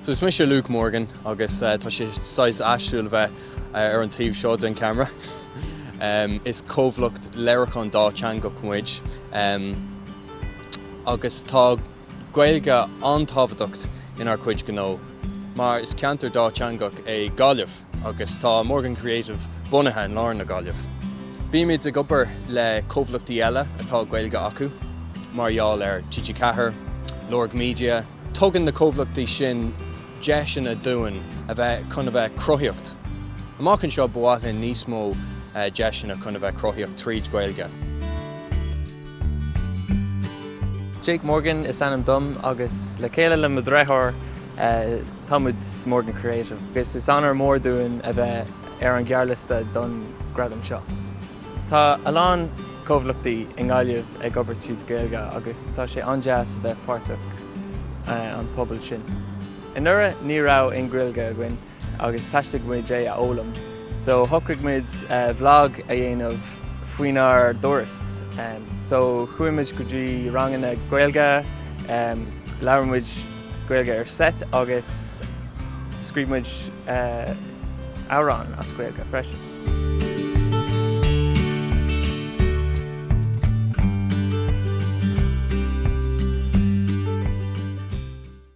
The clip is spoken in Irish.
So is mise Luke Morgan agus tá sé saghas aisteach bheith ar an taobh seo den camera. Is comhlacht léiriúcháin dátheangach muid agus tá Gaeilge an-tábhachtacht inár cuid gnó mar is ceantar dátheangach é Gaillimh. agus tá Morgan Creative bunaithe in lár na Gaillimh. Bímid ag obair le comhlachtaí eile atá Gaeilge acu, mar gheall ar TG4, Lorg Media, tugann na comhlachtaí sin deiseanna dúinn a bheith chun a bheith cruthaíocht. Amach anseo ba mhaith linn níos mó deiseanna chun a bheith cruthaíocht tríd Gaeilge. Jake Morgan is ainm dom agus le chéile le mo dheartháir, tá muid Morgan Creative agus is onóir mór dúinn a bheith ar an ngearrliosta don gradam seo. Tá a lán comhlachtaí i nGaillimh ag obair tríd Gaeilge agus tá sé an-deas a bheith páirteach an pobal sin. Anuraidh ní raibh aon Ghaeilge againn agus theastaigh muid é a fhoghlaim so shocraigh muid vlog a dhéanamh faoinár dturas so chuaigh muid go dtí ranganna Gaeilge, labhair muid. Gaeilge ar seit agus scríobh muid amhrán as Gaeilge freisin.